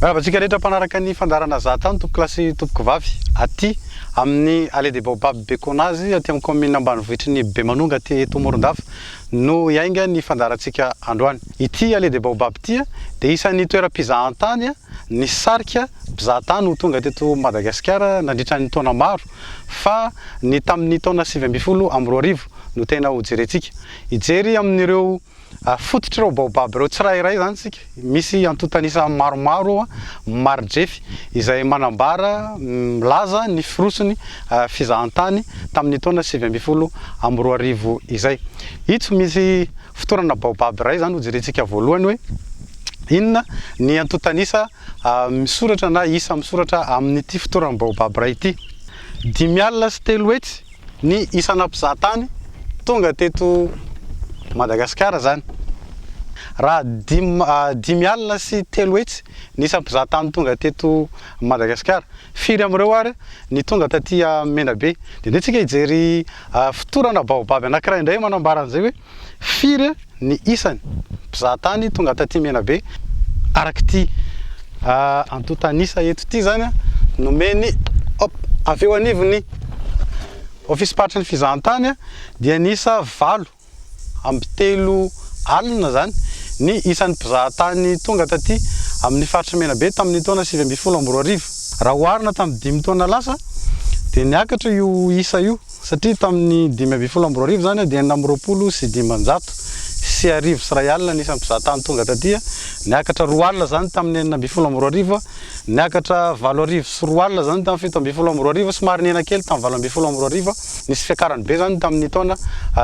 Miarahaba antsika rehetra mpanaraka ny fandaharana Zahatany tompoko lahy sy tompoko vavy aty amin'ny Allée des Baobabs Bekonazy aty amin'ny kaominina ambanivohitry ny Bemanonga aty eto Morondava no hiainga ny fandaharantsika androany. Ity Allée des Baobabs ity dia isan'ny toeram-pizahantany nisarika mpizahatany ho tonga teto Madagasikara nandritra ny taona maro fa ny tamin'ny taona sivy ambin'ny folo amby roa arivo no tena hojerentsika hijery amin'ireo Afototr'ireo baobab ireo tsirairay izany isika. Misy antontan'isa maromaro maridrefy izay manambara, milaza ny firoson'ny fizahantany tamin'ny taona sivy ambin'ny folo amby roa arivo izay. Itso misy fotorana baobab iray izany hojerentsika voalohany hoe inona ny antontan'isa misoratra na isa misoratra amin'ity fotoran'ny baobab iray ity. Dimy alina sy telo hetsy Ny isana mpizahatany tonga teto Madagasikara izany. Raha dimy dimy alina sy telo hetsy ny isan'ny mpizahatany tonga teto Madagasikara. Firy amin'ireo ary ny tonga taty Menabe. Dia andeha tsika hijery fotorana baobab anankiray indray manambara an'izay hoe firy ny isany mpizaha tany tonga taty Menabe araka ity antontan'isa eto ity zany nomeny hop avy eo anivon'ny ofisim-paritry ny fizahantany dia niisa valo amby telo alina zany ny isan'ny mpizaha tany tonga taty amin'ny faritry Menabe tamin'ny taona sivy ambin'ny folo amby roa arivo raha oharina tamin'ny dimy taona lasa dia niakatra io isa io Satria tamin'ny dimy ambin'ny folo amby roa arivo izany dia enina amby roapolo sy dimanjato sy arivo sy iray alina ny isan'ny mpizahatany tonga taty, niakatra roa alina izany tamin'ny enina ambin'ny folo amby roa arivo, niakatra valo arivo sy roa alina izany tamin'ny fito ambin'ny folo amby roa arivo, somary nihena kely tamin'ny valo ambin'ny folo amby roa arivo, nisy fiakarany be izany tamin'ny taona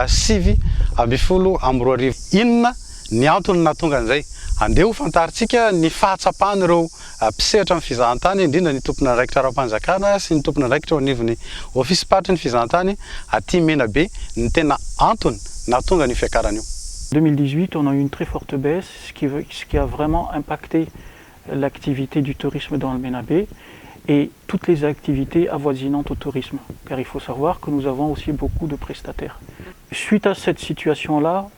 sivy ambin'ny folo amby roa arivo. Inona ny antony nahatonga an'izay? Andeha hofantarintsika ny fahatsapan'ireo Mpisehatra amin'ny fizahantany, indrindra ny tompon'andraikitra ara-panjakana sy ny tompon'andraikitra eo anivon'ny ofisim-paritry ny fizahantany aty Menabe ny tena antony nahatonga an'io fiakarana io. Deux mille dix-huit, on a eu une très forte baisse, ce qui veut, ce qui a vraiment impacté l'activité du tourisme dans le Menabe et toutes les activités avoisinantes au tourisme, car il faut savoir que nous avons aussi beaucoup de prestataires. Suite à cette situation-là,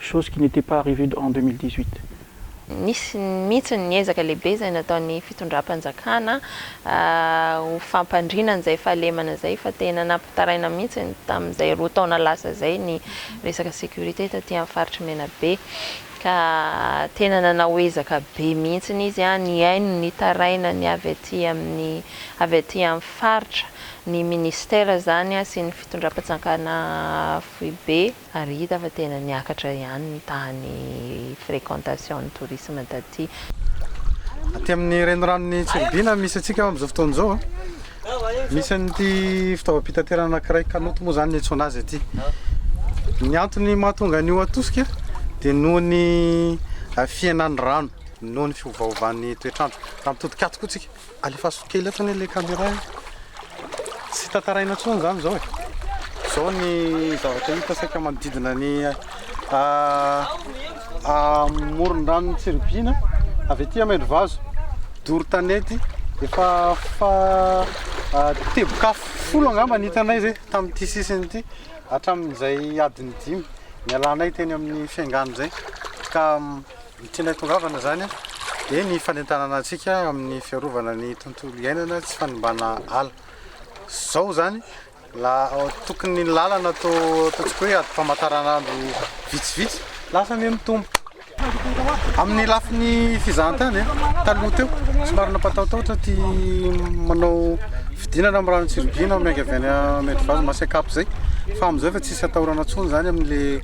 chose qui n'etait pas arrivée en deux mille dix-huit. Nisy mihitsy ny ezaka lehibe izay nataon'ny fitondram-panjakana ho fampandriana an'izay fahalemana izay fa tena nampitaraina mihitsy tamin'izay roa taona lasa izay ny resaka sécurité taty amin'ny faritr'i Menabe ka tena nanao ezaka be mihitsy izy nihaino ny tarainany avy aty amin'ny avy aty amin'ny faritra ny ministera izany sy ny fitondram-panjakana foibe Ary hita fa tena niakatra ihany ny tahan'ny fréquentation ny tourisme taty. Aty amin'ny reniranon'i Tsiribihina misy antsika amin'izao fotoana izao. Misy an'ity fitaovam-pitaterana anankiray kanot moa izany ny antsoina azy aty. Ny antony mahatonga an'io hatosika dia noho ny fihenan'ny rano, noho ny fiovaovan'ny toetr'andro. Raha mitodika ato koa tsika. Alefaso kely etsy anie le caméra e. Tsy tantaraina intsony zany zao e. Zao ny zavatra hita saika manodidina ny amoron-dranon'i Tsiribihina, avy aty Amendrivazo, doro tanety, efa teboka folo angamba ny hitanay zay tamin'ity sisiny ity hatramin'izay adiny dimy nialanay teny amin'ny fiangan'ny zay ka Ny tena tongavana izany dia ny fanentanana antsika amin'ny fiarovana ny tontolo iainana, tsy fanimbana ala. Izao izany, tokony ny lalana ataontsika hoe adim-pamantaranandro vitsivitsy, lasa anie mitombo. Amin'ny lafiny fizahantany, taloha teo, somary nampatahotahotra ity manao fidinana amin'ny rano Tsiribihina miainga avy any Ambohidravazo, Masikap izay, fa amin'izao efa tsisy atahorana intsony izany amin'ilay.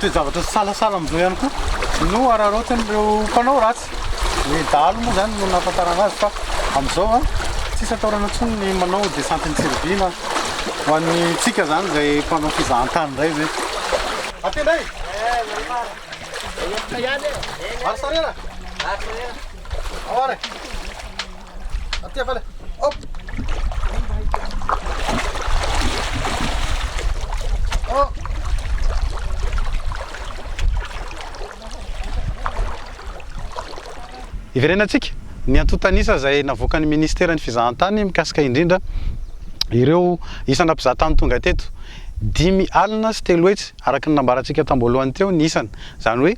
Toe-javatra sahasahala amin'izao ihany koa no araraotin'ireo mpanao ratsy. Ny dahalo moa izany no nahafantarana azy fa amin'izao an, tsisy atahorana intsony ny manao descente an-tsiribina ho antsika izany izay mpanao fizahantany indray ve. Aty indray e! Vary sarera? Vary sarera. Ao ary e! Hiverenantsika ny antontan'isa izay navoakan'ny Ministeran'ny Fizahantany mikasika indrindra ireo isana mpizahatany tonga teto. Dimy alina sy telo hetsy araka ny nambarantsika tamboalohany teo ny isany, izany hoe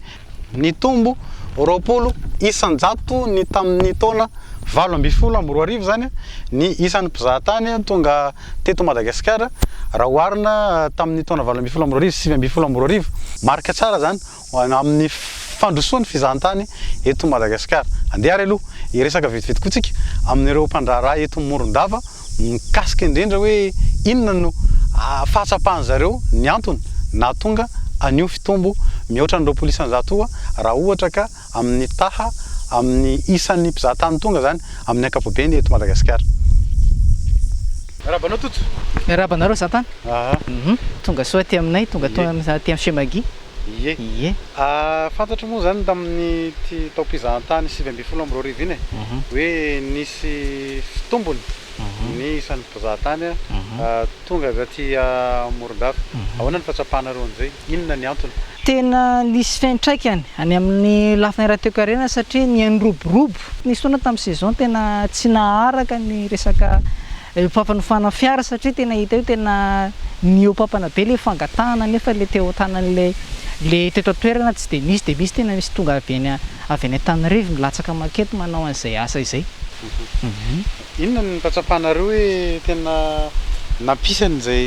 Nitombo roapolo isan-jato ny tamin'ny taona valo ambin'ny folo amby roa arivo izany ny isan'ny mpizahatany tonga teto Madagasikara raha oharina tamin'ny taona valo ambin'ny folo amby roa arivo sy sivy ambin'ny folo amby roa arivo. Marika tsara izany ho amin'ny fandrosoan'ny fizahantany eto Madagasikara. Andeha ary aloha hiresaka vetivety koa tsika amin'ireo mpandraharaha eto Morondava. Mikasika indrindra hoe inona no fahatsapan'ny zareo ny antony nahatonga an'io fitombo mihoatra ny roapolo isanjato io raha ohatra ka amin'ny taha amin'ny isan'ny mpizahatany tonga izany amin'ny ankapobeny eto Madagasikara. Miarahaba anao Toto. Miarahaba anareo zantany. Tonga soa aty aminay, tonga aty amin'ny chez Maggie. Ie. Ie. Fantatro moa izany tamin'ity taom-pizahantany sivy ambin'ny folo amby roa arivo iny e, hoe nisy fitombony ny isan'ny mpizahatany tonga avy aty Morondava. Ahoana ny fahatsapanareo an'izay? Inona ny antony? Tena nisy fiantraikany any amin'ny lafiny ara-toekarena satria nianroborobo. Nisy fotoana tamin'ny saison tena tsy naharaka ny resaka. Io fampanofana fiara satria tena hita io tena nihoapampana be ilay fangatahana nefa ilay teo an-tanan'ilay ilay teto an-toerana tsy dia misy dia misy tena misy tonga avy any avy any Antanirivo milatsaka mankety manao an'izay asa izay. Inona no fahatsapanareo hoe tena nampisany izay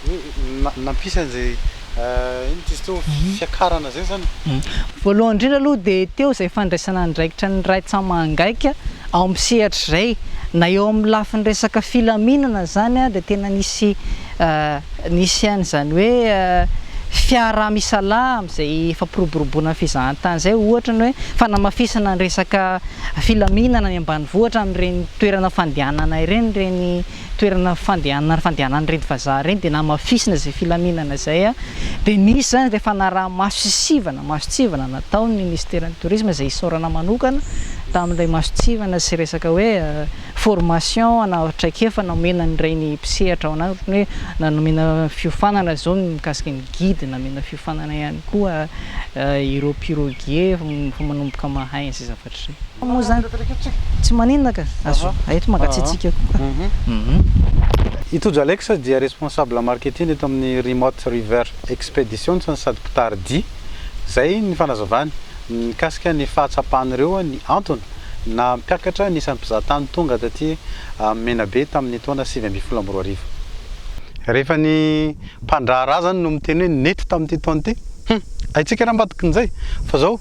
hoe nampisany izay. Inona ty izy teo? Fiakarana izay izany e? Voalohany indrindra aloha dia teo izay fandraisana andraikitra ny raitsamangaika ao amin'ny sehatra izay, na eo amin'ny lafiny resaka filaminana izany dia tena nisy nisy an'izany hoe fiaraha-misalahy amin'izay fampiroboroboana ny fizahantany izay, ohatra ny hoe fanamafisana ny resaka filaminana any ambanivohitra amin'ireny toerana fandehanana ireny ireny toerana fandehanana ary fandehanan'ireny vazaha ireny dia namafisina izay filaminana izay dia nisy izany ilay fanaraha-maso sy sivana masontsivana nataon'ny minisiteran'ny tourisme izay isaorana manokana tamin'ilay masontsivana sy resaka hoe formation ana traikefa nomena an'ireny mpisehatra ao anaty hoe na nomena fiofanana izao ny mikasika ny guide namena fiofanana ihany koa ireo piroguiers vao manomboka mahay ny sisa Tsy maninona ka! Azo hay eto mangatsiatsiaka koa. I Tojo Alex dia responsable marketing eto amin'ny Remote River Expeditions no sady mpitari-dia. Izay ny fanazavany mikasika ny fahatsapan'ireo ny antony nampiakatra ny isan'ny mpizahatany tonga taty Menabe tamin'ny taona sivy ambin'ny folo amby roa arivo. Rehefa ny mpandraharaha izany no miteny hoe nety tamin'ity taona ity, hum! haintsika raha ambadikin'izay fa izao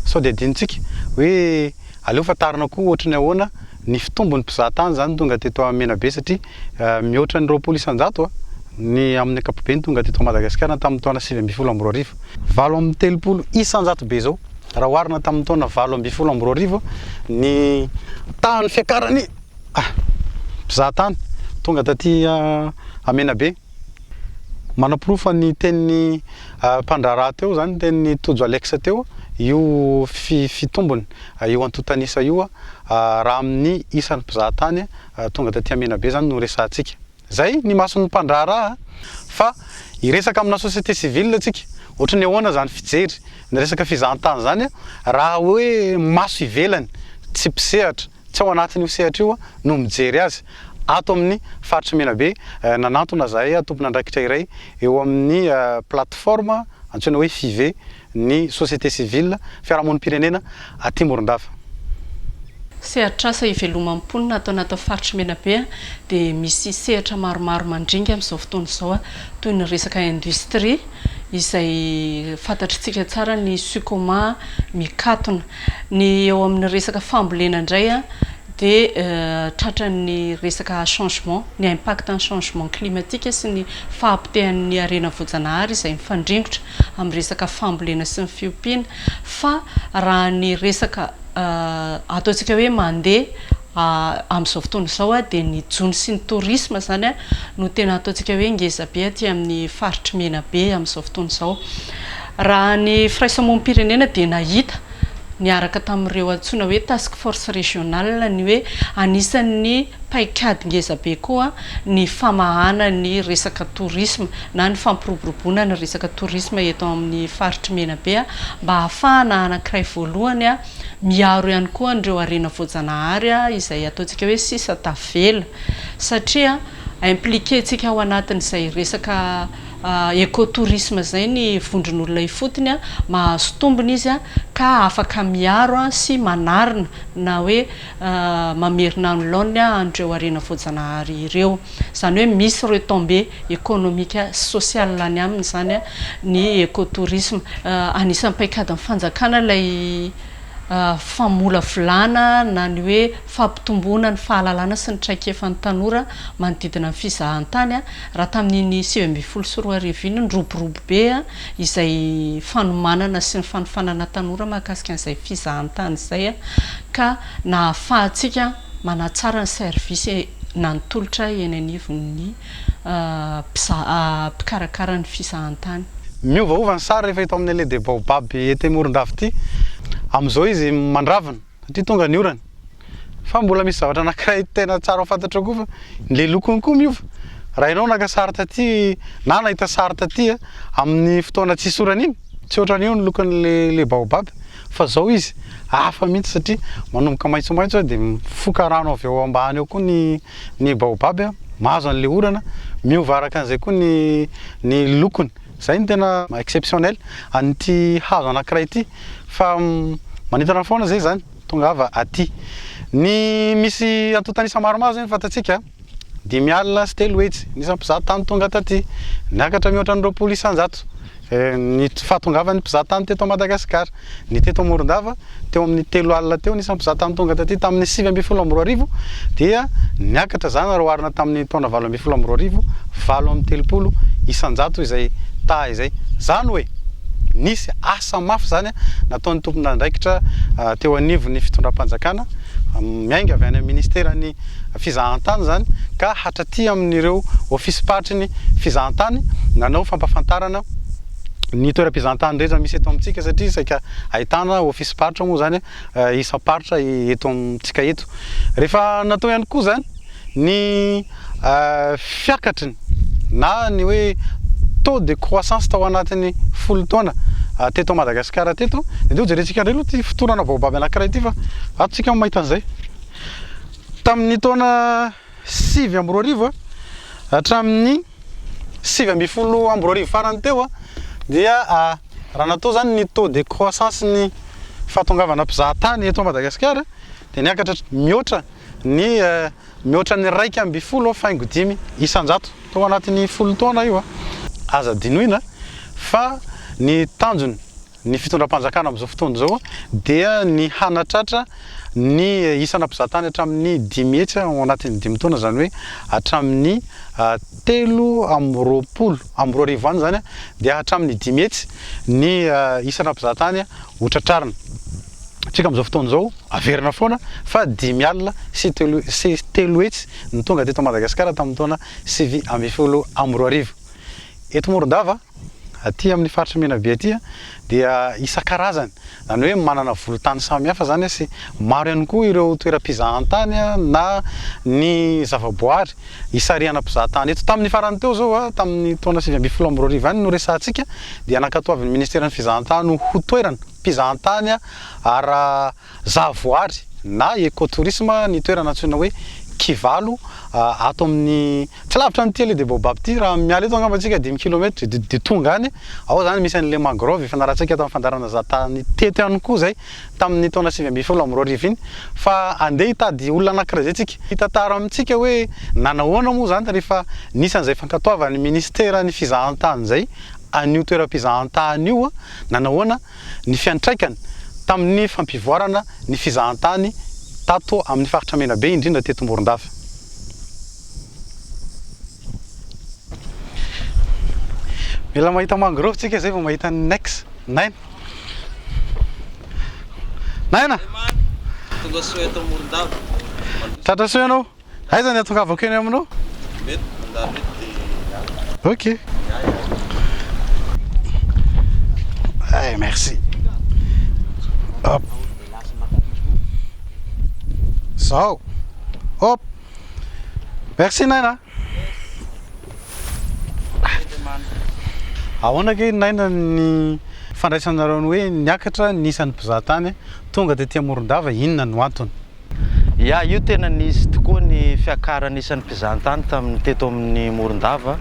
sao dia adinontsika hoe aleo fantarina koa ohatry ny ahoana ny fitombon'ny mpizaha tany izany tonga teto amin'ny Menabe satria mihoatra ny roapolo isan-jato ny amin'ny ankapobeny tonga teto Madagasikara tamin'ny taona sivy ambin'ny folo amby roa arivo, valo amby telopolo isan-jato be izao raha oharina tamin'ny taona valo ambin'ny folo amby roa arivo ny tahan'ny fiakaran'ny mpizaha tany tonga taty Menabe. Manaporofa ny tenin'ny mpandraharaha teo izany, ny tenin'i Tojo Alex teo, io fitombony, io antontan'isa io raha amin'ny isan'ny mpizahatany tonga taty Aminabe izany no resahantsika. Izay ny mason'ny mpandraharaha fa hiresaka amina société civile isika. Ohatry ny ahoana izany fijery ny resaka fizahantany izany raha hoe maso ivelany, tsy mpisehatra, Tsy ao anatin'io sehatra io no mijery azy. Ato amin'ny Faritry Menabe, nanantona zahay tompon'andraikitra iray eo amin'ny plateforme antsoina hoe Five ny société civile, fiarahamonim-pirenena aty Morondava. Sehatr'asa ivelomam-ponina ataona ato Faritry Menabe dia misy sehatra maromaro mandringa amin'izao fotoana izao toy ny resaka industrie izay fantatr'tsika tsara ny Sucoma mikatona. Ny eo amin'ny resaka fambolena indray dia tratran'ny resaka changement, ny impact ny changement climatique sy ny fahapotehan'ny harena voajanahary izay mifandringotra amin'ny resaka fambolena sy ny fiompiana fa raha ny resaka ataontsika hoe mandeha Amin'izao fotoana izao dia ny jono sy ny tourisme izany no tena ataontsika hoe ngeza be aty amin'ny faritr'i Menabe amin'izao fotoana izao. Raha ny firaisamonim-pirenena dia nahita niaraka tamin'ireo antsoina hoe task force régionale ny hoe anisan'ny paikady ngeza be koa ny famahana ny resaka tourisme na ny fampiroboroboana ny resaka tourisme eto amin'ny faritr'i Menabe mba hahafahana anankiray voalohany Miaro ihany koa an'ireo harena voajanahary izay ataontsika hoe sisa tavela satria impliquer-ntsika ao anatin'izay resaka écotourisme izay ny vondron'olona ifotony, mahazo tombony izy ka afaka miaro sy manarina na hoe mamerina ny laoniny an'ireo harena voajanahary ireo. Izany hoe misy retombées économique sy sociales any aminy izany ny écotourisme. Anisan'ny paikadin'ny fanjakana ilay famolavolana na ny hoe fampitomboana ny fahalalana sy ny traikefan'ny tanora manodidina ny fizahantany. Raha tamin'iny sivy ambin'ny folo sy roa arivo iny, niroborobo be izay fanomanana sy ny fanofanana tanora mahakasika an'izay fizahantany izay ka nahafahantsika Manatsara ny service na ny tolotra eny anivon'ny mpikarakara ny fizahantany. Miovaova ny sary rehefa eto amin'ny Allée des Baobabs ety Morondava ity. Amin'izao izy mandravina satria tonga ny orana. Fa mbola misy zavatra anankiray tena tsara ho fantatrao koa fa ilay lokony koa miova. Raha ianao naka sary taty na nahita sary taty amin'ny fotoana tsisy orana iny, tsy ohatran'io ny lokon'ilay Baobab. Fa zao izy hafa mihitsy satria manomboka maitsomaitso dia mifoka rano avy ao ambany ao koa ny ny baobab a, mahazo an'ilay orana, miova araka an'izay koa ny ny lokony. Izay no tena exceptionnel an'ity hazo anankiray ity fa manintona foana izay izany, tongava aty. Ny misy antontan'isa maromaro izay no fantatsika. Dimy alina sy telo hetsy ny isampizaha tany tonga taty, niakatra mihoatra ny roapolo isanjato ny fahatongavan'ny mpizaha tany teto Madagasikara. Ny teto Morondava, teo amin'ny telo alina teo ny isampizaha tany tonga taty tamin'ny sivy ambin'ny folo amby roa arivo dia niakatra izany raha oharina tamin'ny taona valo ambin'ny folo amby roa arivo, valo amby telopolo isanjato izay taha izay. Izany hoe nisy asa mafy izany nataon'ny tompon'andraikitra teo anivon'ny fitondram-panjakana miainga avy any amin'ny ministeran'ny. fizahantany izany ka hatraty amin'ireo ofisim-paritry ny fizahantany nanao fampafantarana ny toeram-pizahantany rehetra misy eto amintsika satria saika ahitana ofisim-paritra moa izany isam-paritra eto amintsika eto. Rehefa natao ihany koa izany ny fiakatry ny na ny hoe taux de croissance tao anatin'ny folo taona teto Madagasikara teto dia hojerentsika indray aloha ity fotorana baobab anankiray ity fa ato isika no mahita an'izay. Tamin'ny taona sivy amby roa arivo hatramin'ny sivy ambin'ny folo amby roa arivo farany teo dia raha natao izany ny taux de croissance ny fahatongavana mpizahatany eto Madagasikara dia niakatra mihoatra ny mihoatra ny iraika ambin'ny folo faingo dimy isan-jato tao anatin'ny folo taona io. Aza dinoina fa ny tanjony Ny fitondram-panjakana amin'izao fotoana izao dia ny hanatratra ny isana mpizahatany hatramin'ny dimy hetsy ao anatin'ny dimy taona, izany hoe hatramin'ny telo amby roapolo amby roa arivo any izany dia hatramin'ny dimy hetsy ny isana mpizahatany ho tratrarina. Isika amin'izao fotoana izao averina foana fa dimy alina sy telo sy telo hetsy no tonga teto Madagasikara tamin'ny taona sivy ambin'ny folo amby roa arivo. Eto Morondava. Aty amin'ny faritra Menabe aty dia isan-karazany, izany hoe manana volon-tany samihafa izany sy maro ihany koa ireo toeram-pizahantany na ny zavaboary hisarihana mpizahatany eto. Tamin'ny farany teo izao, tamin'ny taona sivy ambin'ny folo amby roa arivo ihany no resahantsika dia nankatoavin'ny ministeran'ny fizahantany ho toeram-pizahantany ara-. Zavoary na Ecotourisme ny toerana antsoina hoe Kivalo ato amin'ny, tsy lavitra an'i Tele de Baobab ity, raha miala eto angamba isika dimy kilometatra dia dia tonga any, ao izany misy an'ilay mangrove efa nalatsika tamin'ny fandaharana izaho tany teto ihany koa izay tamin'ny taona sivy ambin'ny folo amby roa arivo iny fa andeha hitady olona anankiray izay isika hitantara amintsika hoe nanahoana moa izany rehefa nisy an'izay fankatoavan'ny Ministeran'ny Fizahantany izay an'io toeram-pizahantany io nanahoana ny fiantraikany tamin'ny fampivoarana ny fizahantany tato amin'ny faritra Menabe indrindra teto Morondava. Mila mahita mangrove tsika zay vao mahita ny nex. Naina. Naina. Tonga soa eto Morondava. Tratra soa ianao. Aiza ny atongavako eny aminao? Mety mandalo eto dia hiala. Ok. Ay, merci. Hop. Zao. Hop. Merci Naina. Ahoana ke Naina ny fandraisanareo ny hoe niakatra ny isan'ny mpizahatany tonga tety Morondava inona no antony? Ya, io tena nisy tokoa ny fiakaran'ny isan'ny mpizahantany tamin'ny teto amin'ny Morondava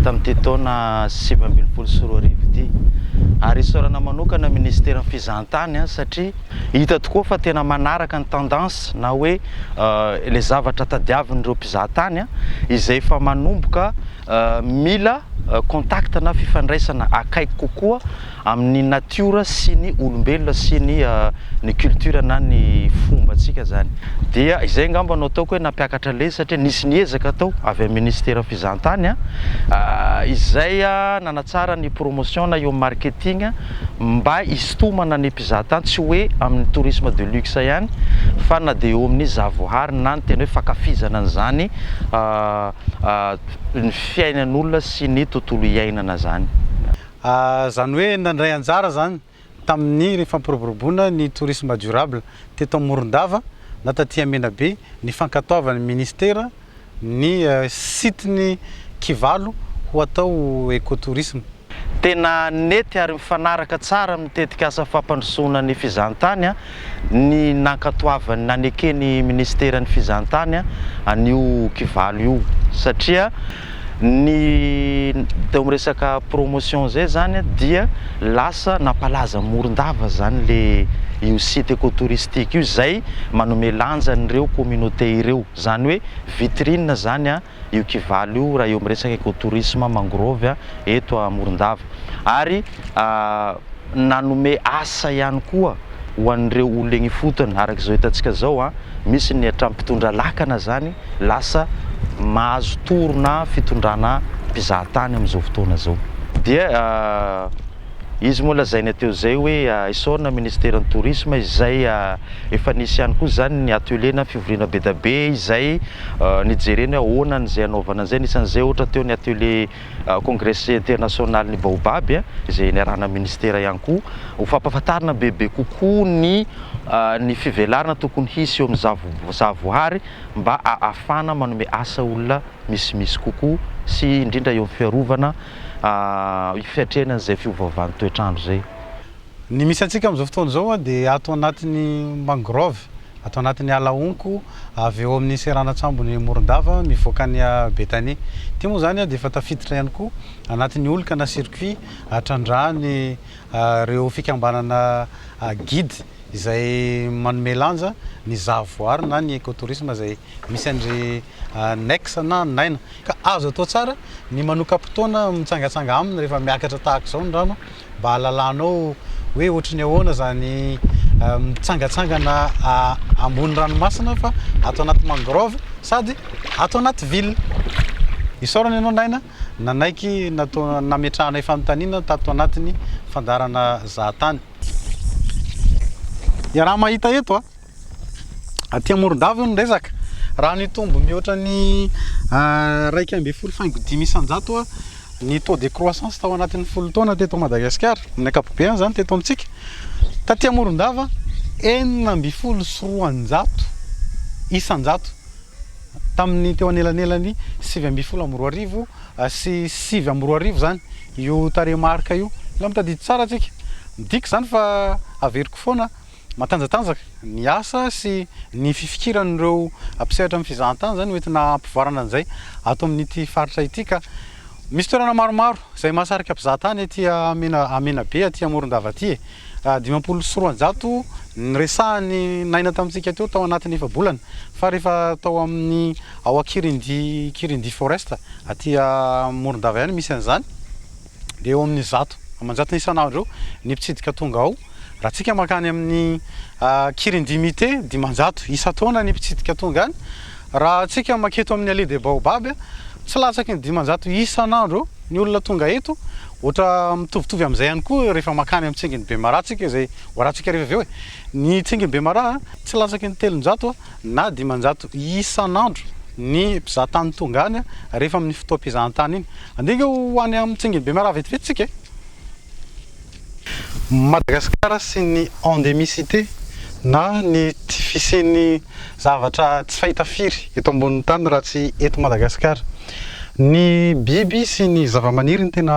tamin'ity taona sivy ambin'ny folo sy roa arivo ity. Ary isaorana manokana ny minisiteran'ny fizahantany satria hita tokoa fa tena manaraka ny tendance na hoe ilay zavatra tadiavin'ireo mpizahantany izay efa manomboka Mila contact na fifandraisana akaiky kokoa amin'ny natiora sy ny olombelona sy ny ny culture na ny fombantsika zany. Dia izay angamba no ataoko hoe nampiakatra lesy satria nisy ny ezaka atao avy amin'ny Ministeran'ny Fizahantany izay nanatsara ny promotion na eo marketing mba hisintomana ny mpizahatany tsy hoe amin'ny tourisme de luxe ihany fa na dia eo amin'ny zahavoahary na ny tena hoe fankafizana an'izany ny fiainan'olona sy ny tontolo iainana zany. Zany hoe nandray anjara zany tamin'ny fampiroboroboana ny tourisme durable teto Morondava na taty Amenabe ny fankatoavan'ny ministera ny site-n'ny Kivalo ho atao eco-tourisme. Tena nety ary mifanaraka tsara amin'ny tetikasa fampandrosoana ny fizahantany ny nankatoavan'ny naneken'ny Ministeran'ny Fizahantany an'io kivalo io satria ny teo amin'ny resaka promotion izay izany dia lasa nampalaza Morondava izany le io site écotouristique io izay manome lanja an'ireo communauté ireo, izany hoe vitrine izany io kivalo io raha eo amin'ny resaka écotourisme mangrove eto Morondava ary nanome asa ihany koa ho an'ireo olona eny ifotony araka izao hitantsika izao misy ny hatramin'ny mpitondra lakana izany lasa mahazo tory na fitondrana mpizahatany amin'izao fotoana izao dia Izy moa lazaina teo izay hoe esorina ministeran'ny tourisme izay efa nisy ihany koa izany ny atelier na fivoriana bedabe izay nijerena hoe ahoana ny izay hanaovana izay nisan'izay ohatra teo ny atelier congrès international ny baobab izay niarahana ministera ihany koa ho fampafantarina bebe kokoa ny ny fivelarana tokony hisy eo amin'ny zavohary mba ahafahana manome asa olona misimisy kokoa sy indrindra eo amin'ny fiarovana fiatrehana an'izay fiovaovan'ny toetr'andro izay. Ny misy antsika amin'izao fotoana izao dia ato anatin'ny mangrove, ato anatin'ny ala honko avy eo amin'ny seranan-tsambon'i Morondava mivoaka an'i Betania. Ity moa izany dia efa tafiditra ihany koa anatin'ny olka na circuit atrandrahan'ireo fikambanana guide izay manome lanja ny zahavoary na ny écotourisme izay misy an-dry Annex na naina. Ka azo atao tsara ny manoka-potoana mitsangatsanga aminy rehefa miakatra tahaka izao ny rano mba hahalalanao hoe ohatry ny ahoana izany mitsangatsangana ambony ranomasina fa ato anaty mangrove sady ato anaty ville. Isaorana ianao Naina nanaiky nametrahanay fanontaniana tato anatin'ny fandaharana Zahatany. Iaraha-mahita eto a! Aty Morondava io ny resaka, raha nitombo mihoatra ny iraika ambin'ny folo faingo dimy isan-jato ny taux de croissance tao anatin'ny folo taona teto Madagasikara, amin'ny ankapobeny izany teto amintsika, taty Morondava enina ambin'ny folo sy roanjato isan-jato tamin'ny teo anelanelan'ny sivy ambin'ny folo amby roa arivo sy sivy amby roa arivo izany io tarehimarika io, mila mitadidy tsara tsika, midika izany fa averiko foana. Matanjatanjaka ny asa sy ny fifikiran'ireo mpisehatra amin'ny fizahantany izany hoentina hampivoarana an'izay ato amin'ity faritra ity ka misy toerana maromaro izay mahasarika mpizahatany aty Menabe aty Morondava aty e! Dimampolo sy roanjato niresahan'i Naina tamintsika teo tao anatin'ny efa-bolana fa rehefa tao amin'ny ao Ankirindi Kirindi Forest aty Morondava ihany misy an'izany. dia eo amin'ny zato aman-jatony isan'andro eo ny mpitsidika tonga ao. Raha tsika mankany amin'ny Kirindimite, dimanjato isan-taona ny mpitsidika tonga any. Raha tsika maketo amin'ny Allée des Baobabs, tsy latsaky ny dimanjato isan'andro eo ny olona tonga eto. Ohatra mitovitovy amin'izay ihany koa rehefa mankany amin'ny tsingin'i Bemaraha tsika, izay hoarantsika rehefa avy eo e! Ny tsingin'i Bemaraha, tsy latsaky ny telonjato na dimanjato isan'andro ny mpizaha tany tonga any rehefa amin'ny fotoam-pizahantany iny. Andeha ange ho any amin'ny tsengin'i Bemaraha vetivety isika e! Madagasikara sy ny endemicité na ny tsy fisian'ny zavatra tsy fahita firy eto ambonin'ny tany raha tsy eto Madagasikara. Ny biby sy ny zavamaniry no tena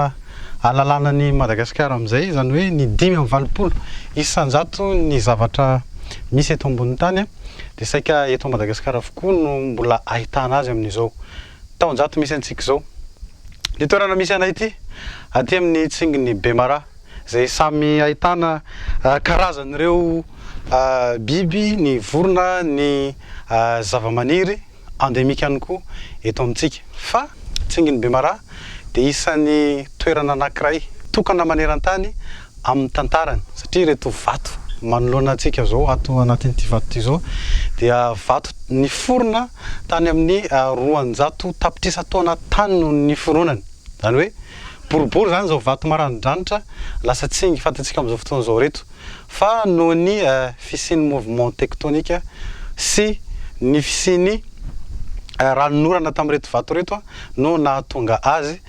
Ahalalana an'i Madagasikara amin'izay, izany hoe ny dimy amby valopolo isan-jato ny zavatra misy eto ambonin'ny tany dia saika eto Madagasikara avokoa no mbola ahitana azy amin'izao taon-jato misy antsika izao. Ny toerana misy anay ity, aty amin'ny tsingin'i Bemara, izay samy ahitana karazan'ireo biby, ny vorona, ny zavamaniry. endémique ihany koa eto amintsika. Fa Tsingin'i Bemaraha dia isan'ny toerana anankiray tokana maneran-tany amin'ny tantarany satria ireto vato manoloana antsika izao ato anatin'ity vato ity izao dia vato niforona tany amin'ny roanjato tapitrisa taona tany no niforonany. Izany hoe boribory izany izao vato maranidranitra lasa tsingy fantatsika amin'izao fotoana izao ireto. fa noho ny fisian'ny mouvement tectonique sy ny fisian'ny ranon'orana tamin'ireto vato ireto no nahatonga azy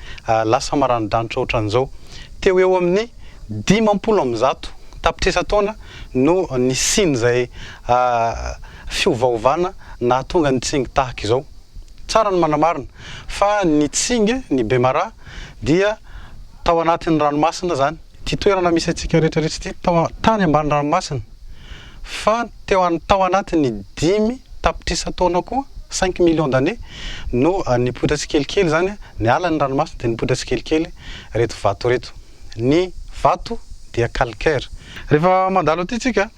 lasa maranidranitra ohatran'izao. Teo eo amin'ny dimampolo amby zato tapitrisa taona no nisian'izay fiovaovana nahatonga ny tsingy tahaka izao. Tsara ny manamarina fa ny tsingy, ny bemaraha, dia tao anatin'ny ranomasina izany. Ity toerana misy antsika rehetra rehetra ity tao tany ambany ranomasina, fa teo an tao anatin' ny dimy tapitrisa taona koa, cinq millions d'années, no nipoitra tsikelikely izany, niala ny ranomasina dia nipoitra tsikelikely ireto vato ireto. Ny vato dia calcaire. Rehefa mandalo aty tsika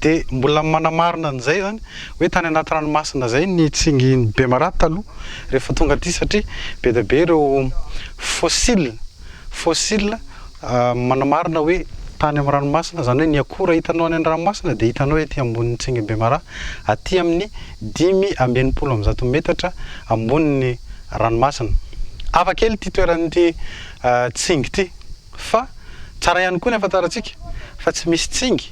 dia mbola manamarina an'izay izany hoe tany anaty ranomasina izay ny tsingin'i Bemaraha taloha rehefa tonga aty satria be dia be ireo fossiles. Fossile, manamarina hoe tany amin'ny ranomasina, izany hoe ny akora hitanao any an-dranomasina dia hitanao ety ambonin'ny tsingy Bemaraha, aty amin'ny dimy amby enimpolo amby zato metatra ambonin'ny ranomasina. Hafa kely ity toeran'ity tsingy ity, fa tsara ihany koa ny hahafantarantsika fa tsy misy tsingy,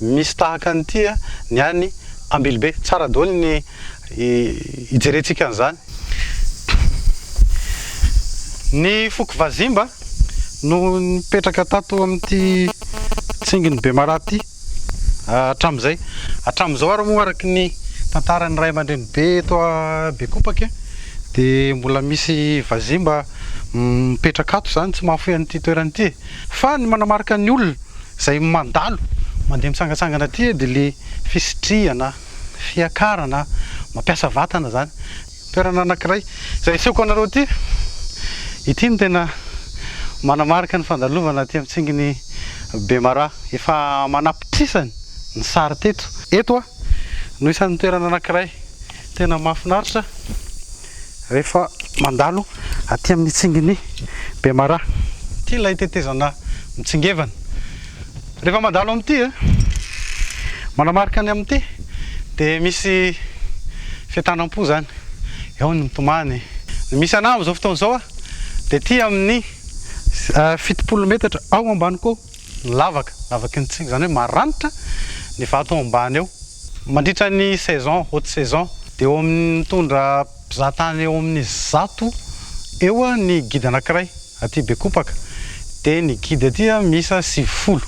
Misy tahaka an'ity ny any Ambilobe. Tsara daholo ny ijerentsika an'izany. Ny foko Vazimba no nipetraka tato amin'ity tsingin'i Bemaraha ity hatramin'izay. Hatramin'izao ary moa araka ny tantaran'ny ray aman-dreny be eto Bekopaka dia mbola misy Vazimba mipetraka ato izany, tsy mahafoy an'ity toerana ity. Fa ny manamarika ny olona izay mandalo mandeha mitsangatsangana aty dia ilay fisitrihana, fiakarana, mampiasa vatana izany. Toerana anankiray izay asehoko anareo ity, ity no tena manamarika ny fandalovana aty amin'ny tsingin'i Bemaraha. Efa manapitrisany ny sary teto. Eto no isan'ny toerana anankiray tena mahafinaritra. rehefa mandalo aty amin'ny tsingin'i Bemaraha. Ity ilay tetezana mitsingevana. Rehefa mandalo amin'ity, manamarika ny amin'ity, dia misy fientanam-po izany. Eo ny mitomany. Ny misy anah amin'izao fotoana izao dia aty amin'ny fitopolo metatra ao ambany koa. lavaka, lavaky ny tsipy, izany hoe maranitra ny vato ao ambany ao. Mandritra ny saison, haute saison, dia eo amin'ny mitondra mpizahatany eo amin'ny zato eo ny guide anankiray aty Bekopaka, dia ny guide aty miisa sivifolo,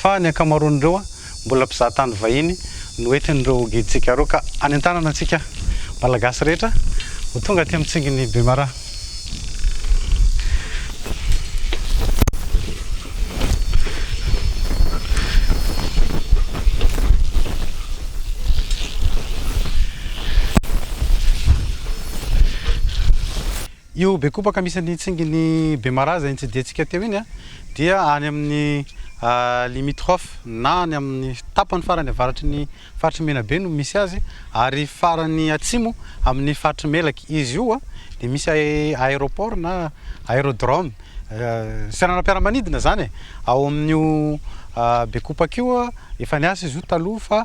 fa ny ankamaroan'ireo. Mbola mpizaha tany vahiny no entin'ireo gidintsika ireo ka any an-tanana antsika Malagasy rehetra ho tonga aty amin'ny tsingin'i Bemaraha. Io bekopaka misy ny tsingin'i Bemaraza iny tsidiantsika teo iny dia any amin'ny limitrophe na any amin'ny tapany farany avaratry ny faritry Menabe no misy azy ary farany atsimo amin'ny faritry Melaky. Izy io dia misy aéroport na aérodrome seranam-piaramanidina izany e! ao amin'io bekopaka io. Efa niasa izy io taloha fa.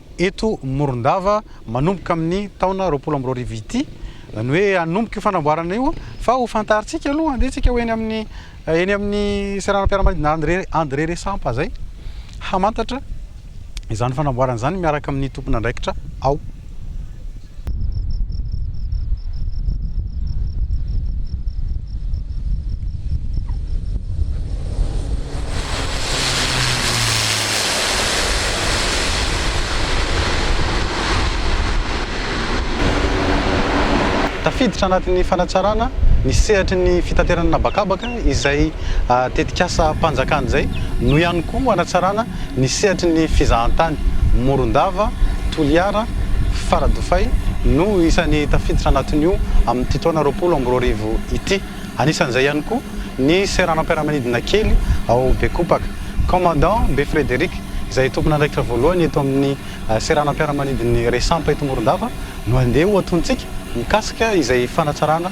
eto Morondava manomboka amin'ny taona roapolo amby roa arivo ity, izany hoe hanomboka io fanamboarana io fa ho fantarintsika aloha handeha tsika ho eny amin'ny eny amin'ny seranam-piaramanidina André André Resampa izay hamantatra izany fanamboarana izany miaraka amin'ny tompon'andraikitra ao. Tafiditra anatin'ny fanatsarana ny sehatry ny fitaterana an'habakabaka izay tetik'asam-panjakana izay no ihany koa hanatsarana Ny sehatry ny fizahantany, Morondava, Toliara, Faradofay, no isan'ny tafiditra anatin'io amin'ity taona roapolo amby roa arivo ity. Anisan'izay ihany koa ny seranam-piaramanidina kely ao Bekopaka. Commandant Be Frederic, izay tompon'andraikitra voalohany eto amin'ny seranam-piaramanidin'ny Resampa eto Morondava, no andeha ho atontsika mikasika izay fanatsarana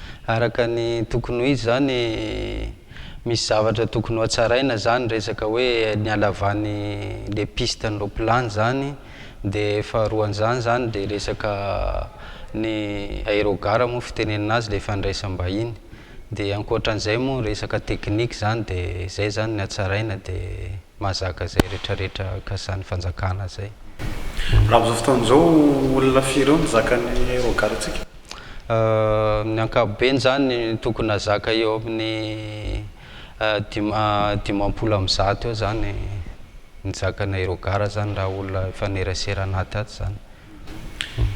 Araka ny tokony ho izy zany misy zavatra tokony ho hatsaraina zany resaka hoe ny halavany le piste ny roplany zany de faharoan zany zany de resaka ny aerogare moa fitenenana azy le fandraisam-bahiny de ankoatran'izay moa resaka technique zany de zay zany ny hatsaraina de mahazaka izay rehetra rehetra kasan'ny fanjakana izay. Raha amin'izao fotoana izao olona firy eo no zakan'ny regard antsika? Ny ankapobeny izany tokony hazaka eo amin'ny dimampolo amby zato eo izany ny zakanay regard izany raha olona mifanerasera anaty ato izany.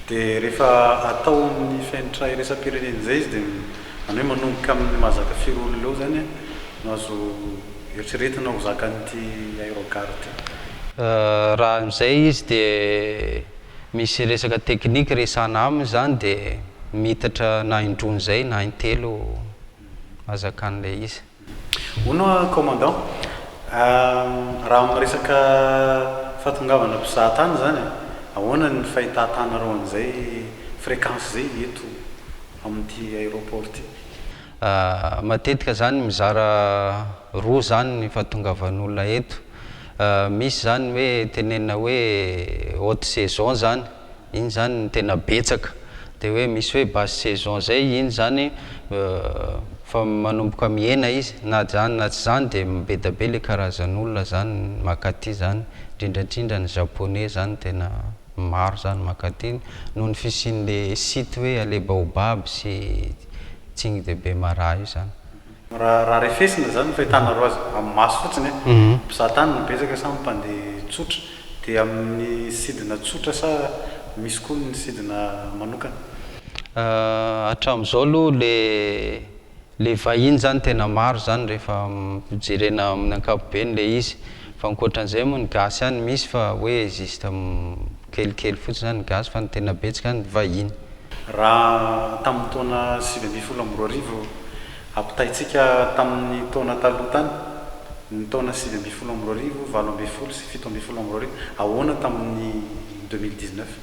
Dia rehefa atao amin'ny fenitra iraisam-pirenena izay izy dia izany hoe manomboka amin'ny maha zaka firy olona eo izany no azo eritreretina ho zakan'ity aérogare ity. Raha amin'izay izy dia misy resaka teknika resahana aminy izany dia miitatra na indroa an'izay na intelo hazakan'ilay izy. Hono aho commandant ah, raha amin'ny resaka fahatongavana mpizaha tany izany eh, ahoana ny fahitatanareo an'izay fréquence izay eto amin'ity aéroport ity? Ah, matetika izany mizara roa izany ny fahatongavan'olona eto. Ah, misy izany hoe tenenina hoe haute saison izany. iny izany no tena betsaka, dia hoe misy hoe basse saison izay, iny izany efa manomboka mihena izy, na izany na tsy izany dia mibedabe ilay karazan'olona izany makaty izany, indrindra indrindra ny japonais izany tena maro izany makaty, noho ny fisian'ilay site hoe aller baobab sy tsing de bemaraha io izany. Raha refesina izany ny fahitanareo azy amin'ny maso fotsiny e, mpizaha tany no betsaka sa ny mpandeha tsotra? Dia amin'ny sidina tsotra sa misy koa ny sidina manokana? Hatramin'izao aloha ilay ilay vahiny izany tena maro izany rehefa jerena amin'ny ankapobeny ilay izy. Fa ankoatran'izay moa ny gasy ihany misy fa hoe juste kelikely fotsiny izany ny gasy fa ny tena betsaka ny vahiny. Raha tamin'ny taona sivy ambin'ny folo amby roa arivo, ampitahaintsika tamin'ny taona taloha tany, ny taona sivy ambin'ny folo amby roa arivo, valo ambin'ny folo sy fito ambin'ny folo amby roa arivo, ahoana tamin'ny deux mille dix-neuf?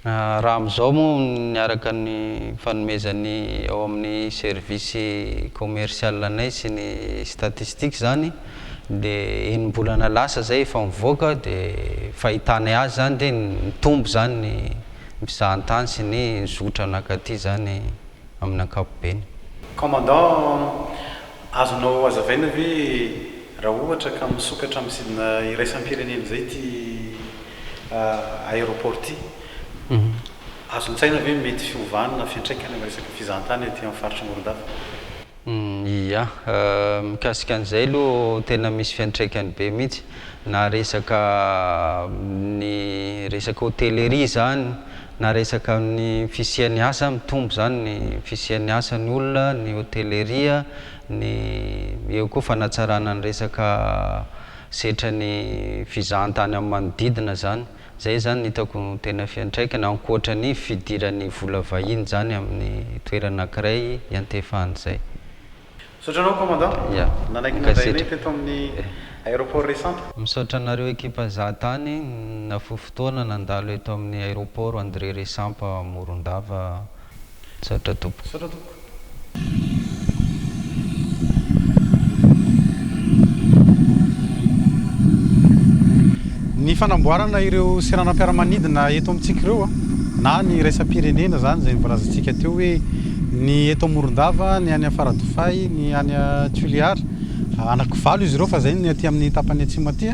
Raha amin'izao moa, niaraka ny fanomezan'ny ao amin'ny service commercial anay sy ny statistiques izany dia enim-bolana lasa izay efa mivoaka dia fahitanay azy izany dia nitombo izany ny Mpizahan-tany sy ny zotra nankaty izany amin'ny ankapobeny. Commandant, Azonao hazavaina ve raha ohatra ka misokatra amin'ny sidina iraisam-pirenena izay ity aéroport ity? Azon-tsaina ve ny mety fiovana fiantraikany amin'ny resaka fizahan-tany aty amin'ny faritr'i Morondava? Ia, mikasika an'izay aloha tena misy fiantraikany be mihitsy na resaka amin'ny resaka hôtellerie zany na resaka amin'ny fisian'ny asa, mitombo zany ny fisian'ny asa ny olona, ny hôtellerie, ny eo koa fanatsarana ny resaka setran'ny visa an-tany amin'ny manodidina zany. Izay izany no hitako tena fiantraikany, ankoatra ny fidiran'ny vola vahiny izany amin'ny toerana ankiray iantefahany izay. Misaotra anao Commandant. Ya. Nanaiky nandray anay teto amin'ny Aéroport Ressanta. Misaotra anareo ekipa Zahatany nahafoy fotoana nandalo eto amin'ny Aéroport André Ressampa Morondava. Misaotra tompoko. Misaotra tompoko. Ny fanamboarana ireo seranam-piaramanidina eto amintsika ireo na ny iraisam-pirenena izany izay nivolazantsika teo hoe ny eto Morondava, ny any Faradofay, ny any Toliara. Anaky valo izy ireo fa izay ny aty amin'ny tapany atsimo aty.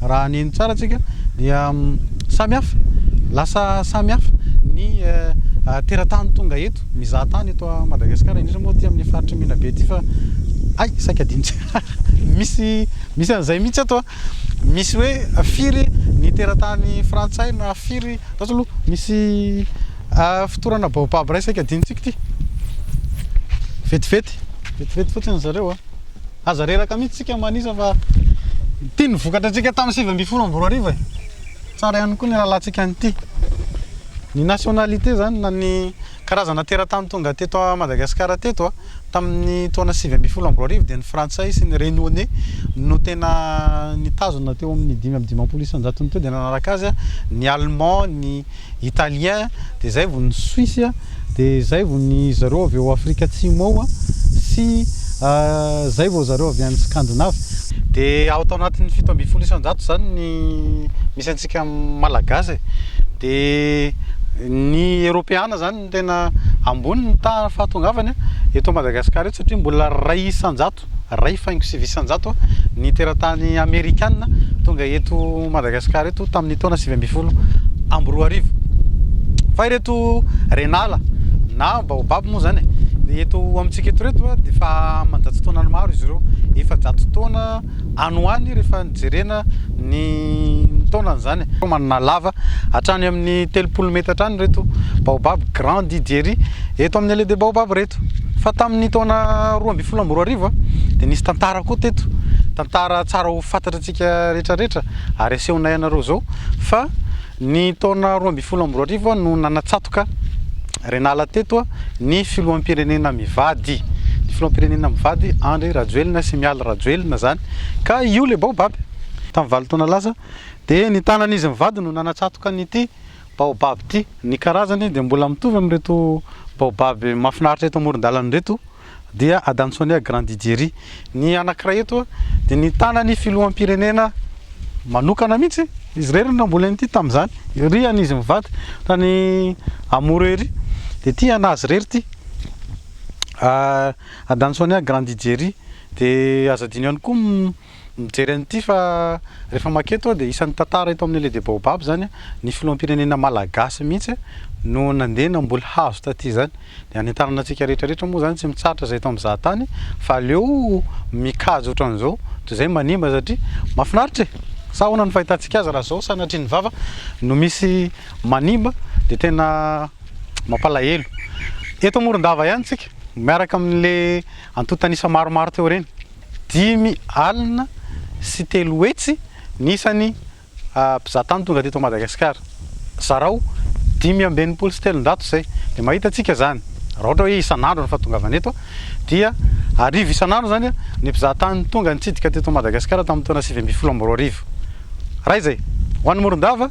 Raha ny eny tsara tsika dia samy hafa, lasa samy hafa ny teratany tonga eto, mizaha tany eto a Madagascar, indrindra moa aty amin'ny faritry Menabe aty fa hay saika adino tsara, misy misy an'izay mihitsy ato a, misy hoe firy ny teratany frantsay na firy, zato aloha misy fitorana baobab ray saika adino tsika ity, vetivety vetivety fotsiny zareo a. Aza reraka mihitsy tsika manisa fa ity no vokatra antsika tamin'ny sivy ambin'ny folo amby roa arivo e! Tsara ihany koa ny rahalahintsika an'ity. Ny nationalité izany na ny karazana teratany tonga teto Madagasikara teto tamin'ny taona sivy ambin'ny folo amby roa arivo dia ny frantsay sy ny renone no tena nitazona teo amin'ny dimy amby dimampolo isanjaton'ny teo dia nanaraka azy ny allemand, ny italien dia zay vao ny suisse a dia zay vao ny zareo avy ao afrika atsimo ao a sy zay vao zareo avy any scandinave dia ao tao anatin'ny fito ambin'ny folo isanjato zany ny misy antsika malagasy e dia ny eropeana zany no tena ambony ny tahan'ny fahatongavany eto Madagasikara eto satria mbola iray isan-jato, iray faingo sivy isan-jato ny teratany amerikana tonga eto Madagasikara eto tamin'ny taona sivy ambin'ny folo amby roa arivo. Fa ireto renala na baobab moa izany dia eto amintsika eto ireto dia efa aman-jato taonany maro izy ireo, efa-jato taona. any ho any rehefa jerena ny taonany izany. Manana lava hatrany amin'ny telopolo meta hatrany ireto baobab grand Didieri eto amin'ny Allée des Baobabs ireto. Fa tamin'ny taona roa ambin'ny folo amby roa arivo dia nisy tantara koa teto, tantara tsara ho fantatra antsika rehetra rehetra ary asehonay anareo izao fa Ny taona roa ambin'ny folo amby roa arivo no nanatsatoka Renala teto ny filoham-pirenena mivady, ny filoham-pirenena mivady Andry Rajoelina sy Mialy Rajoelina izany ka io ilay baobab tamin'ny valo taona lasa dia ny tanan'izy mivady no nanatsatoka an'ity baobab ity. Ny karazany dia mbola mitovy amin'ireto baobab mahafinaritra eto amoron-dalana ireto. dia Adam Sonia Grandidieri. Ny anankiray eto dia nitana ny filoham-pirenena manokana mihitsy izy irery no mbola nity tamin'izany ery any izy mivady tany amoro ery dia ity anazy irery ity ah, adany sonia grandi jerry dia aza dino ihany koa Mijery an'ity fa rehefa maka eto dia isan'ny tantara eto amin'ny Allée des Baobabs izany ny filoham-pirenena malagasy mihitsy no nandeha namboly hazo taty izany. Dia hanentanana antsika rehetra rehetra moa izany tsy mitsahatra izay eto amin'ny zahatany fa aleo mikajo ohatran'izao toy izay manimba satria mahafinaritra e! Sa ahoana ny fahitantsika azy raha izao sanatria ny vava no misy manimba dia tena mampalahelo. Eto Morondava ihany isika miaraka amin'ilay antontan'isa maromaro teo ireny. Dimy alina sy telo hetsy ny isan'ny mpizahatany tonga teto Madagasikara. Zarao dimy amby enimpolo sy telonjato izay. Dia mahita antsika izany, raha ohatra hoe isan'andro ny fahatongavana eto, dia arivo isan'andro izany ny mpizahatany tonga nitsidika teto Madagasikara tamin'ny taona sivy ambin'ny folo amby roa arivo. Raha izay, ho an'i Morondava,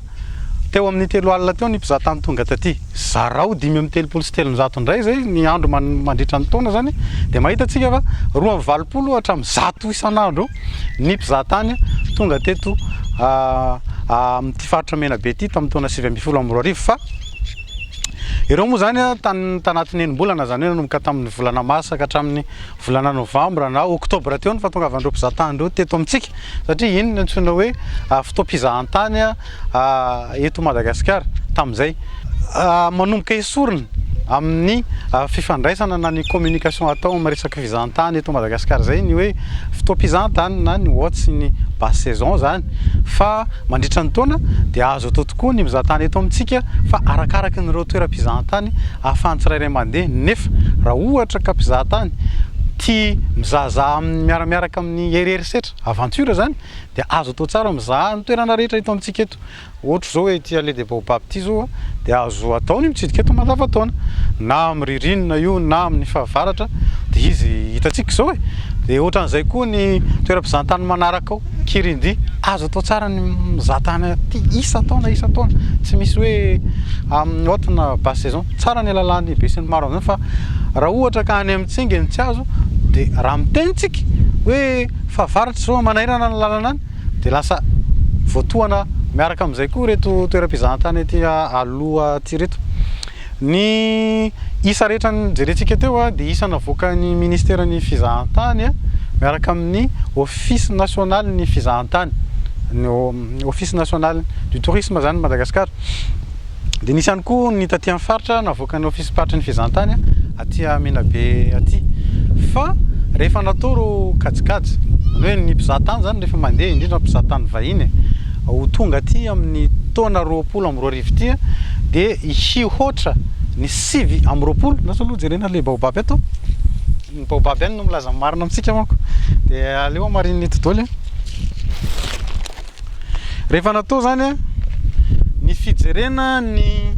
teo amin'ny telo alina teo ny mpizahatany tonga taty. Zarao dimy amby telopolo sy telonjato indray izay ny andro mandritra ny taona izany dia mahita antsika fa roa amby valopolo hatramin'ny zato isan'andro ny mpizahatany tonga teto amin'ity faritra Menabe ity tamin'ny taona sivy ambin'ny folo amby roa arivo fa ireo moa izany tanatin'ny enim-bolana izany hoe nanomboka tamin'ny volana marsa ka hatramin'ny Volana novambra na oktobra teo ny fahatongavan'ireo mpizahatany ireo teto amintsika, satria iny no antsoina hoe fotoam-pizahantany eto Madagasikara tamin'izay. Manomboka esorina amin'ny fifandraisana na ny communication atao amin'ny resaka fizahantany eto Madagasikara izay ny hoe fotoam-pizahantany na ny watch ny basse saison izany fa Mandritra ny taona dia azo atao tokoa ny mizahantany eto amintsika fa arakaraky ny ireo toeram-pizahantany ahafahan'ny tsirairay mandeha nefa raha ohatra ka mpizahantany tia mizahazaha amin'ny miaramiaraka amin'ny hery herisetra, aventure, izany dia azo atao tsara mizaha ny toerana rehetra eto amintsika eto ohatra izao hoe ity allée des baobab ity izao dia azo atao ny mitsidika eto mandavantaona na amin'ny ririnina io na amin'ny fahavaratra dia izy hitantsika izao e! dia ohatran'izay koa ny toeram-pizahantany manaraka ao. Kirindi. Azo atao tsara ny mizaha tany aty isan-taona isan-taona, tsy misy hoe amin'ny haute na basse saison. Tsara ny alalan'ny besinimaro amin'izany fa raha ohatra ka any amin'ny tsingy ny tsy azo dia raha miteny isika hoe fa varatra izao manairana ny lalana any dia lasa voatohana miaraka amin'izay koa ireto toeram-pizahantany aty aloha aty ireto. Ny isa rehetra jerentsika teo dia isa navoakan'ny Ministeran'ny Fizahantany miaraka amin'ny Office Nationalin'ny Fizahantany, ny Office National du Tourisme izany i Madagasikara. Dia nisy ihany koa ny taty amin'ny faritra navoakan'ny Ofisim-paritry ny Fizahantany aty Menabe aty. Fa rehefa natao ireo kajikajy, izany hoe ny mpizaha tany izany rehefa mandeha, indrindra mpizaha tany vahiny ho tonga aty amin'ny taona roapolo amby roa arivo ity dia, hihoatra ny sivy amby roapolo, na zao aloha jerena le baobab eto, ny baobab ihany no milaza ny marina amintsika manko, de aleo hamarinin'ny eto doly an. Rehefa natao zany an, ny fijerena ny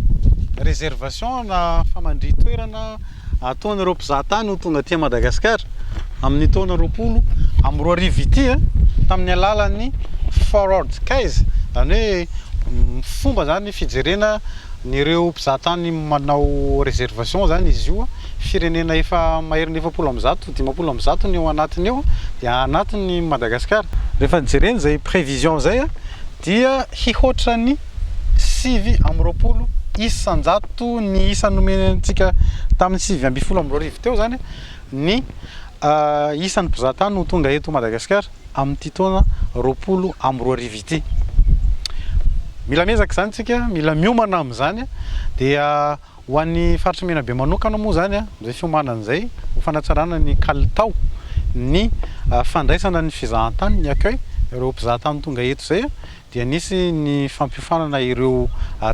reservation na famandri-toerana, ataon' ireo mpizaha tany ho tonga aty Madagasikara amin' ny taona roapolo amby roa arivo ity tamin' ny alalan' ny Forward Skies, izany hoe fomba izany fijerena an' ireo mpizaha tany manao reservation izany izy io, firenena efa maherin'ny efapolo amby zato, dimampolo amby zato ny ao anatiny ao dia anatiny Madagasikara. Rehefa jerena izay prévision izay dia hihoatra ny. sivy amby roapolo isan-jato ny isa nomena antsika tamin'ny sivy ambin'ny folo amby roa arivo teo izany ny isan'ny mpizahatany ho tonga eto Madagasikara amin'ity taona roapolo amby roa arivo ity. Mila mezaka izany tsika, mila miomana amin'izany dia ho an'ny faritry Menabe manokana moa izany izay fiomanana izay ho fanatsarana ny kalitao ny fandraisana ny fizahantany ny accueil ireo mpizahatany tonga eto izay dia nisy ny fampiofanana ireo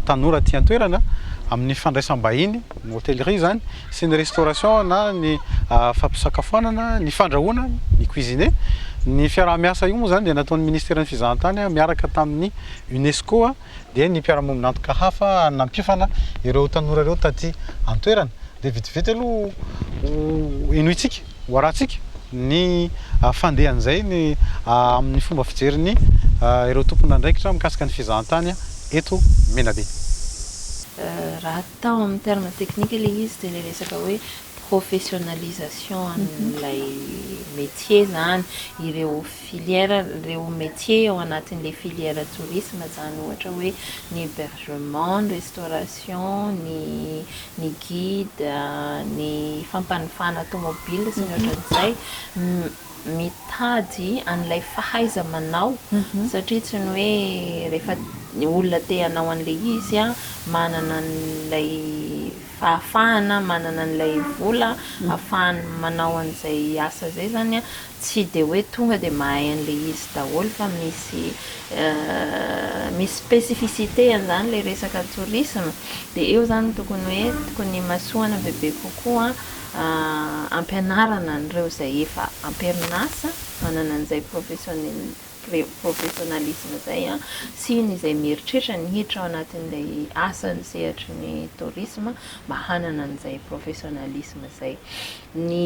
tanora aty an-toerana amin'ny fandraisam-bahiny, ny hotellerie izany, sy ny restauration na ny fampisakafoanana, ny fandrahoana, ny cuisine. Ny fiaraha-miasa io moa izany dia nataon'ny Ministeran'ny Fizahantany miaraka tamin'ny UNESCO dia ny mpiara-miombon'antoka hafa nampiofana ireo tanora ireo taty an-toerana. Dia vitividy aloha ho henointsika. ho arantsika ny fandehan'izay amin'ny fomba fijerin'ny ireo tompon'andraikitra mikasika ny fizahantany eto Menabe. Raha atao amin'ny terme technique ilay izy dia ilay resaka hoe professionnalisation an'ilay métier izany, ireo filière, ireo métier ao anatin'ilay filière tourisme izany ohatra hoe ny hébergement, ny restauration, ny ny guide, ny fampanofana tomobile sy ny ohatran'izay, mitady an'ilay fahaiza-manao satria tsy ny hoe rehefa ny olona te hanao an'ilay izy manana an'ilay fahafahana, manana an'ilay vola afahany manao an'izay asa izay izany an! Tsy dia hoe tonga dia mahay an'ilay izy daholo fa misy misy spécificité an'izany ilay resaka tourisme dia eo izany no tokony hoe tokony himasoana bebe kokoa hampianarana an'ireo izay efa am-perinasa manana an'izay professionnel professionnalisme izay an, sy ny izay mieritreritra ny hiditra ao anatin'ilay asan'ny sehatry ny tourisme mba hanana an'izay professionnalisme izay. Ny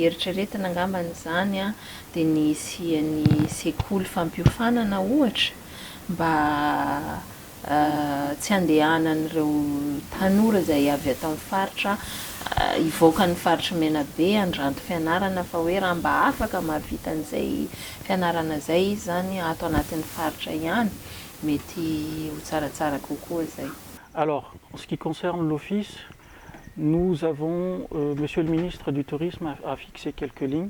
eritreretina angambany izany an, dia ny hisian'ny sekoly fampiofanana ohatra mba tsy andehanan'ireo tanora izay avy ato amin'ny faritra hivoaka ny faritry Menabe handranto fianarana fa hoe raha mba afaka mahavita an'izay fianarana izay izy izany ato anatin'ny faritra ihany mety ho tsaratsara kokoa izay. Alors, en ce qui concerne l'office, nous avons, Monsieur le Ministre du Tourisme a fixé quelques lignes,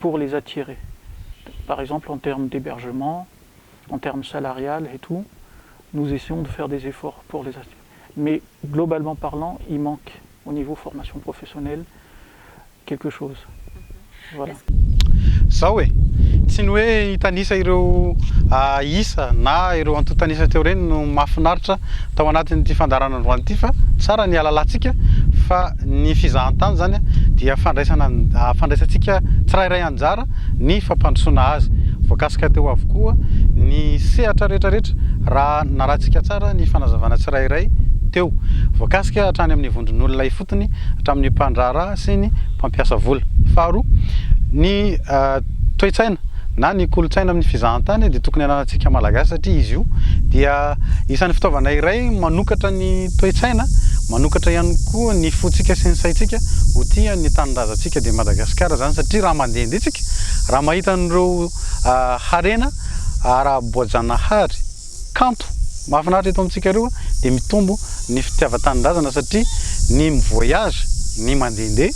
pour les attirer par exemple en termes d'hébergement, en termes salariales et tout, nous essayons de faire des efforts pour les attirer mais globalement parlant il manque au niveau formation professionnelle quelque chose voilà. Zao e! Tsy ny hoe hitanisa ireo isa na ireo antontanisa teo ireny no mahafinaritra tao anatin'ity fandaharana androany ity fa tsara ny halalantsika fa Ny fizahantany izany dia fandraisana fandraisantsika tsirairay anjara ny fampandrosoana azy. Voakasika teo avokoa ny sehatra rehetrarehetra raha narahintsika tsara ny fanazavana tsirairay teo. Voakasika hatrany amin'ny vondron'olona ifotony, hatramin'ny mpandraharaha sy ny mpampiasa vola. Faharoa, ny. Toe-tsaina na ny kolontsaina amin'ny fizahantany dia tokony ananantsika Malagasy satria izy io dia isan'ny fitaovana iray manokatra ny toe-tsaina, manokatra ihany koa ny fontsika sy ny saintsika ho tia ny tanindrazantsika dia Madagasikara izany satria raha mandihindihy isika, raha mahita an'ireo harena ara-boajanahary. Kanto mahafinaritra eto amintsika roa dia mitombo ny fitiavan-tanindrazana satria ny mi-voyage, ny mandehandeha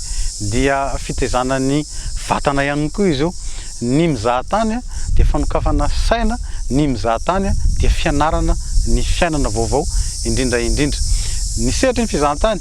dia fitaizana ny vatana ihany koa izy io. Ny mizaha tany dia fanokafana saina, ny mizaha tany dia fianarana ny fiainana vaovao indrindra indrindra. Ny sehatry ny fizahantany.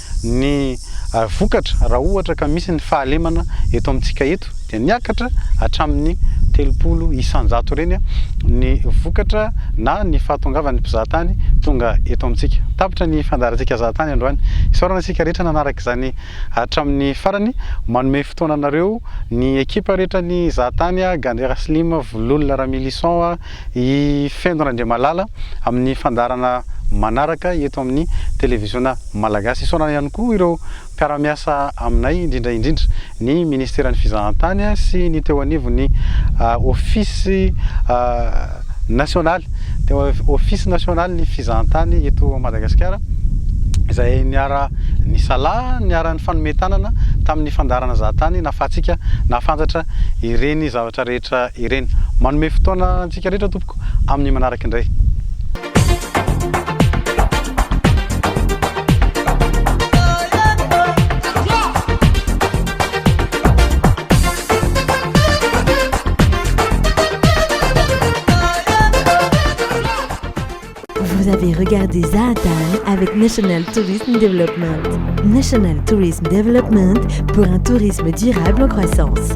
ny vokatra raha ohatra ka misy ny fahalemana eto amintsika eto dia niakatra hatramin'ny telopolo isan-jato ireny ny vokatra na ny fahatongavan'ny mpizahatany tonga eto amintsika. Tapitra ny fandaharantsika zahatany androany. Isaorana isika rehetra nanaraka izany hatramin'ny farany. Manome fotoana anareo ny ekipa rehetra ny zahatany, Gandera Slim, Vololona Ramilison, I Fendo Randriamalala amin'ny fandaharana manaraka eto amin'ny televiziona malagasy. Isaorana ihany koa ireo mpiara-miasa aminay, indrindra indrindra ny ministeran'ny fizahantany sy ny teo anivon'ny ofisy nasionaly, ofisy nasionalin'ny fizahantany eto Madagasikara, izay niara nisalahy, niara nifanome tanana tamin'ny fandaharana Zahatany nahafahantsika nahafantatra ireny zavatra rehetra. voninahitra ireny. Manome fotoana antsika rehetra tompoko amin'ny manaraka indray. Regardez Zaatan avec National Tourism Development. National Tourism Development pour un tourisme durable en croissance.